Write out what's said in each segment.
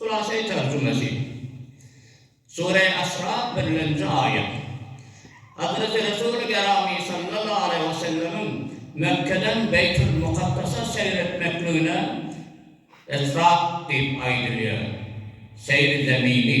Hulasa-i terjümesi. Sure-i Esra birlenji aýat. Hazreti Resuli Gerami sallallahu aleýhi we sellemiň Mekgeden Beýtul Mukaddasa seýr etmekligine Esra diýip aýdylýar, seýri zemini.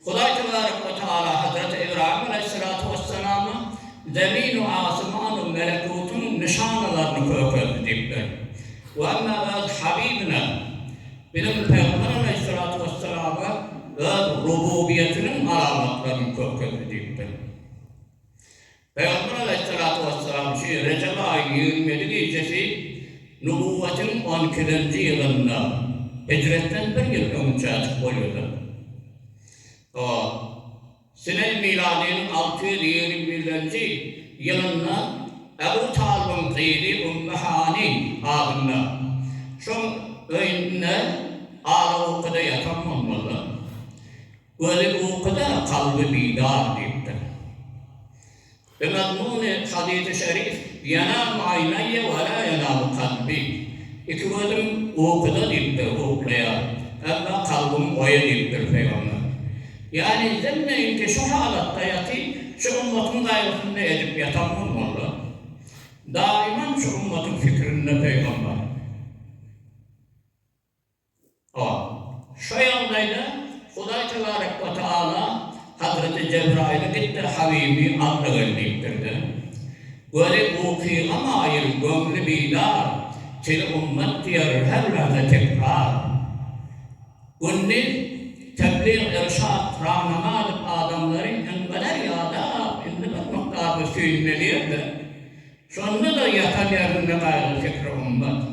Hudaý tebarek we tagala Hazreti Ybraýym aleýhissalatu wessalama Zemin-u asmanu melekutyň nyşanalaryny kökeldi diýip berdi. We emma öz Habibine, biziň Pygamber aleýhissalatu wessalama öz rububiýetiniň alamatlaryny kökeldi diýip berdi. Pygamber Aleýhissalatu Wesselam şu Rejep aýyň ýigrimi ýedi gijesi Nubowwatyň on ikilenji ýylynda, Hijretden bir ýyl öňçä açyp goýuldy. A. Sineý miladynyň alty ýüz ýigrimi birlenji ýylynda Ebu Talybyň gyzy Ummu Hani adynda şoň öýünde alawokada ýatan bolmalydyr. Gözi ukuda, kalby bidar diýipdir. Bimazmuny hadysy şerif, Ýenâmu aýnayýe ve lâ ýenâmu kalbî, Iki gözüm ukuda diýipdir, uklaýar, emma kalbym oýa diýipdir pygamber. Ýani hemmeňki şu halatda ýaty, şu ümmatyň gaýgysyny edip ýatan bolmalylar. Daýymam şu ümmatyň fikrinde pygamber. A. Şo ýagdaýda Hudaý tebarek we taala Hazreti Jebraýyla gitdir Habibi alna gel diýipdir-de. Weli ukyga maýyl göňli bidar Tili ummet diýer her lahza tekrar Gündiz Tebliğ irşat rahnama edip adamlary Inňeder ýadap indi bir mukdar bu süýnmeli ýerde Şonda-da ýatar ýerinde gaýgy-fikri ummet.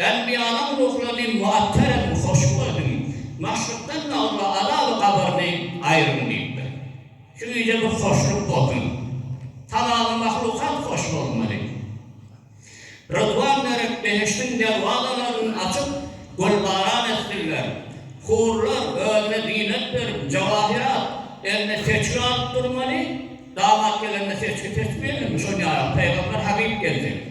Enbiýanyň ruhlaryny muattarem hoşbu edin, Maşrykdan magryba azaby gabaryny aýryn diýipdir. Şu gije bir hoşluk bolsun. Talaňy mahlukat hoş bolmaly. Rydwan berip, behişdiň derwazalaryny açyp, gülbaran etsinler. Hurlar özüne zinet berip, jawahyrat, eline seçgi alyp durmaly, damat gelende seçgi seçmeýärlermi, şol ýaly, Pygamber Habyp gelse.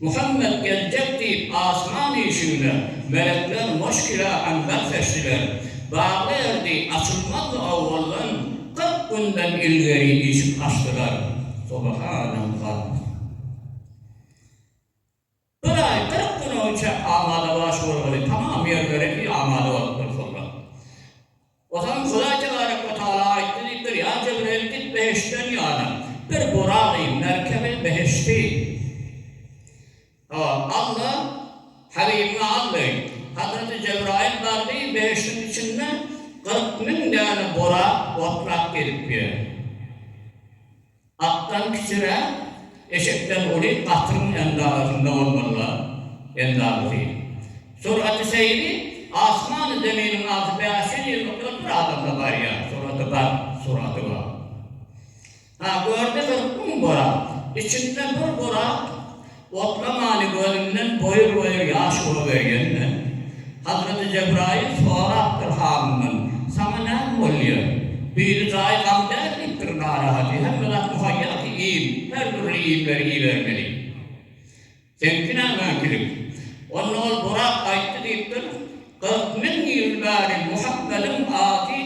Muhammet geljek diýip asman işigine melekler moşkila aňzak seçdiler. Bagly erdi, açylmazdy owaldan, kyrk günden ilgeri işik açdylar. Subhanallah! Bir aý kyrk gün öýçäk amadabaş bolgaly tamam ýerleri amada bolupdyr soňra. Onsoň Hudaý Tebareke we Tagala aýtdy diýip bir ýan Jebreýil git behiştden ýana bir buragy, merkebi, behişti, hawa, alda, Habibiňe al diý. Hazreti Jebraýyl bardy, behiştiň içinde kyrk müň däne burak otlap gezip ýör. Atdan kiçiräk, eşekden uly gatyryň endazasynda bolmalylar, endazasy. Suraty seýri, asmany zeminiň arasy bäş ýüz ýyllykdan bir adamda barýar, suraty bar, suraty bar. Ha, gördi bir kum borat, içinde bir borat Oklamany gözünden boýur-boýur ýaş urup öýdende, Hazreti Jebraýyl sorapdyr hanyndan, Saňa näme bolýar? Biri jaýy gam däl diýipdir, narahaty, hemme zat muhaýýa ki, iým, her dürli iýmleri iýibermeli. Seňki nämeňkilik? Onda ol Burak aýtdy diýipdir. Kyrk müň ýyl bäri Muhammedyň ady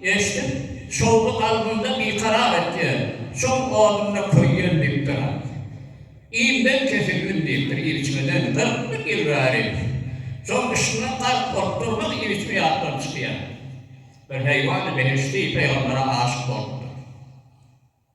eşidip, şowly kalbymda bikarar etýär. Şoň odunda köýýän diýipdir. Iýmden kesilgin diýipdir ilçime döni. Kyrk müň ýyl bäri şoň yşkyndan gark bolup durmaz ilçime ýatdan çykýar. Bir heýwany behişdi pegambere aşyk bolupdyr.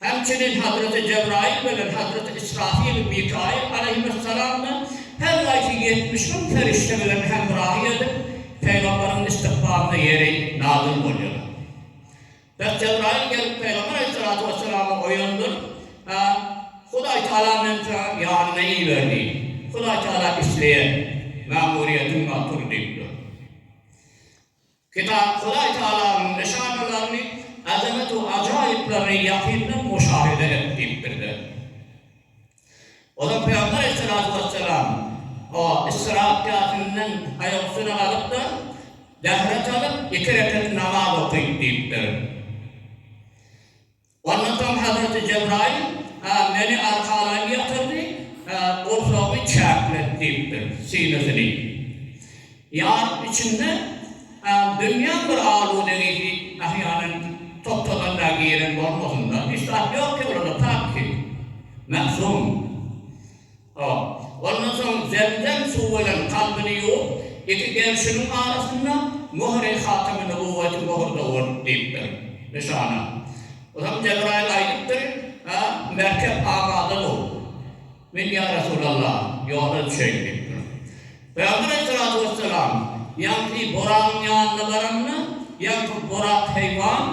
Hemçinin Hazreti Jebraýyl bilen Hazreti Ysrafyl, Mikaýyl alaýhymyssalamdan her gaýsy ýetmiş gün perişde bilen hemrahy edip, pygamberiň istikbalyna ýeri nazyl bolýarlar. Dek Jebraýyl gelip pygamber alaýhyssalatu wessalamy oýandyryp, Hä, Hudaý Tagala meni saňa ýanyna iberdi. Hudaý Tagala isleýän mämuriýetiň bar, tur diýipdir. Kitap Hudaý Tagalanyň nyşanalaryny, azamat we ajaýyplaryny ýakyndan muşahere et diýipdir we Olar Pygamber Aleyhissalatu wesselam, o, Isra kätinden aýak üstüne galyp-da, zähret alyp, iki rekat namaz oky diýipdir. Ondan soň Hazreti Jebraýyl meni arkalaýyn ýatyrdy, gursagymy çäklet diýipdir, synasyny. Ýaryň içinde dünýäň bir aludegisi ähýanan toptadan-da giren bolmasyn-da, hiç zat ýok ýolunda, pakisi, mährum. A. Ondan soň zemzem suwy bilen kalbyny ýuwup, iki gerşiniň arasynda Möhür-i hatymy nubowweti möhürde bol! diýipdir. Nyşana. O zaman Jebraýyl aýdypdyr, A. Merkep amada bow! Men, ýa Resulallah, ýola düşeýin diýipdir. Pygamber aleyhissalatu wesselam ýaňky buragyň ýanyna baranda, ýaňky burak heýwan,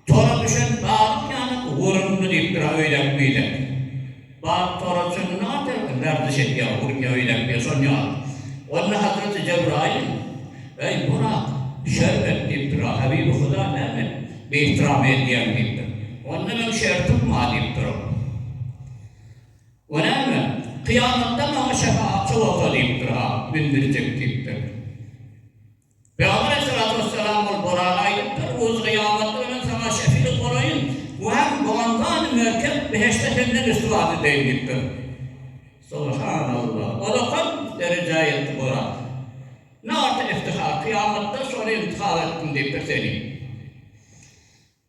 Tora düşen balyň ýaly wurundy diýipdir-ä öýläp-öýläp. Balyk tora düşündi nahanda gardyş edýär, urýar, öýläpýär şol ýaly. Onda Hazreti Jebraýyl, Eý, Burak, Şerbet diýipdir-ä, Habibi Huda näme biihtiram edýäň diýipdir. Onda meň şertim bar diýipdir ol. O näme? Kyýamatda maňa şefaatçy bolsa diýipdir-ä, mündirjek diýipdir. Pygamber aleýhissalatu wessalam ol Buraka aýdypdyr, Öz gyýamatda ölen saňa şefigat bolaýyn we hem Gumanzany merkep behişde senden risuwa edeýin diýipdir. Subhanallah! Ol-a köp derejä ýetdi Burak. Ne arta iftihar, kyýamatda şony intihar etdim diýipdir seni.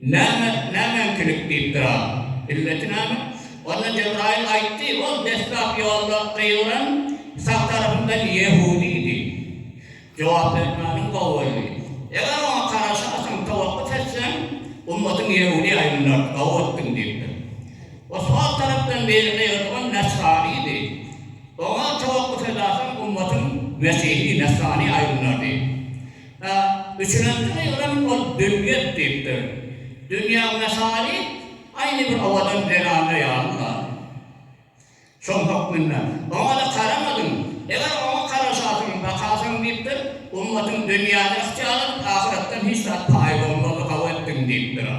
Näme, nämeňkilik diýipdir a? Illeti näme? Onda Jebraýyl aýtdy, Ol deslap ýolda gygyran sag tarapyndan ýehudidi. Jogap bermäniň gowy boldy. Eger oňa garaşasaň, towakgyt etseň, ummatyň ýehudi aýlanardy, gowy etdiň diýipdir. Ol sol tarapdan biri gygyrylan nesranidi. Oňa towakgyt edasaň, ummatyň mesihi, nesrani aýlanardy. A üçünjisi ýygrym ol dünýet diýipdir. Dünýäň mesaly aýny bir owadan zelanda ýaly zady. Şoň hökmünde, oňa-da garamadyň. Eger oňa garaşasyň, bakasyň diýipdir, ummatyň dünýäni ygtyýar edip, ahyretden hiç zat paýy bolmazlygy gabat etdiň diýipdir. A.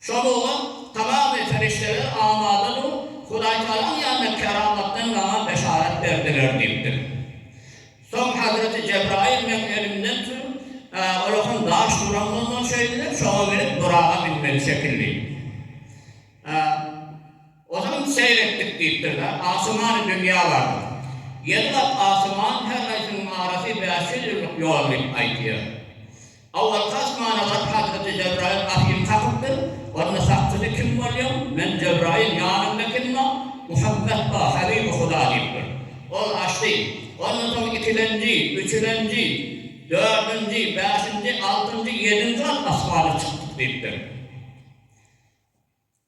Şol oglan tamamy perişdeler amadadyr, Hudaýtagalaň ýanynda keramatdan maňa beşarat berdiler diýipdir. Soň Hazreti Jebraýyl meň elimden tutup, Olakan daş duran bolmaly şeýdilip, şoňa münüp buraga münmeli şekilli. Ozal seýr etdik diýipdir-de, asymany dünýä bardyk. Ýeri gat asyman her gaýsynyň arasy bäş ýüz ýyllyk ýol diýip aýdýar. Awalky asmana baryp Hazreti Jebraýyl gapyny kakypdyr, onda sakçysy kim bolýaň, men Jebraýyl ýanyňda kim bar, Muhammet bar, Habibi Huda diýipdir. Ol açdy. Ondan soň ikilenji, üçülenji, dördünji, bäşinji, altynjy, ýedinji gat asmana çykdyk diýipdir.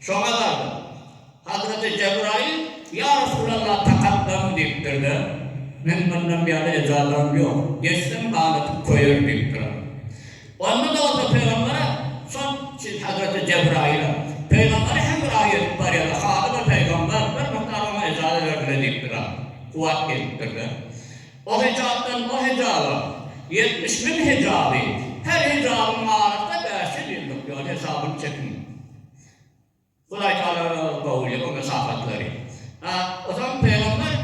Şoňa galdy. Hazreti Jebraýyl, Ýa Resulalla, takat barmy? diýipdir-de, Men mundan ýaly ejazaň ýok. Geçsem, ganatyp köýer, diýipdir-ä. Onda-da bolsa pygambere, şol Hazreti Jebraýyla, pygambere hem bir aý ýetip barýar-da, haly bir pygamber, bir mukdar oňa ejaza berdi-le diýipdir-ä. Kuwwat gelipdir-de. O hijapdan o hijaba ýetmiş müň hijaby, her hijabyň arasy bäş ýüz ýyldyk ýol hesabyny çekiň. Hudaý Tagala Gaul ýok onda şahatlary. A ozan Pygamber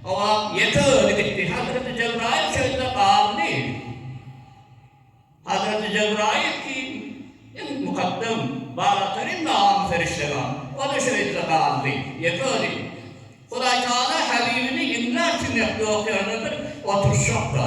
hawa ýeke özi gitdi Hazreti Jebraýyl çölde galdy. Hazreti Jebraýyl kim? Iň mukaddem Balataryn Magamly Perişde bar. Oda şöýdüle galdy. Ýeke özi. Hudaý Tagala Habibini imlap süňňekde okýanlardyr oturyş ýokda.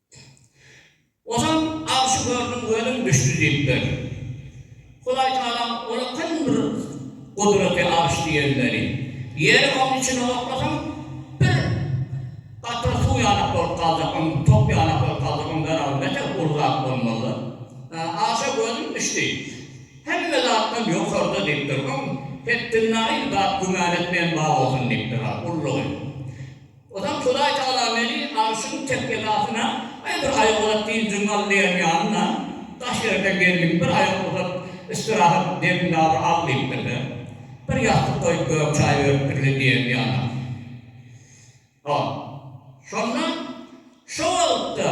Ozal agşy gördüm gözüm düşdi diýipdir. Hudaý Tagalam ola kyn bir gudraty arş diýilmeli. Ýeri oň içine oklasaň bir gatra suw ýalak bolup galjak oň top ýalak bolup galjak oň zerawy näte uly zat bolmaly. Agşa gözüm düşdi. Hemme zatdan ýokarda diýipdir. Oň hetdinden aýry zat güman etmeýän bar bolsun diýipdir ha ullugy. Onsoň Hudaý Tagala meni arşyň tekgedasyna, Aý, bir aýak uzat diýip jyň al diýen ýaly-la, daş ýerden geldiň, bir aýak uzat, istirahat demini-de al diýipdir-de, bir ýassyk goýup gök çaý beripdir-le diýen ýaly. Hop. Şonda, şo wagtda.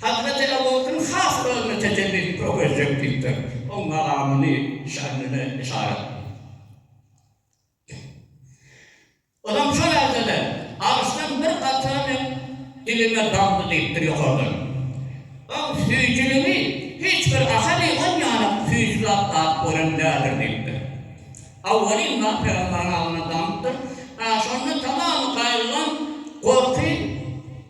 Hazreti Ebu Bekriň has özüne tetellik kökezjek diýipdir. Oň magamyny, şanyny yşarat etdi. Ozam şo ýerde-de, Arşdan bir katra meň dilime damdy diýipdir ýokardan. Oň süýjüligi hiç bir ahali on ýanak süýji zat dap gören däldir diýipdir. Awwalin zat pygamberiň agzyna damypdyr. Şonda tamamy gaýgylan, gorky.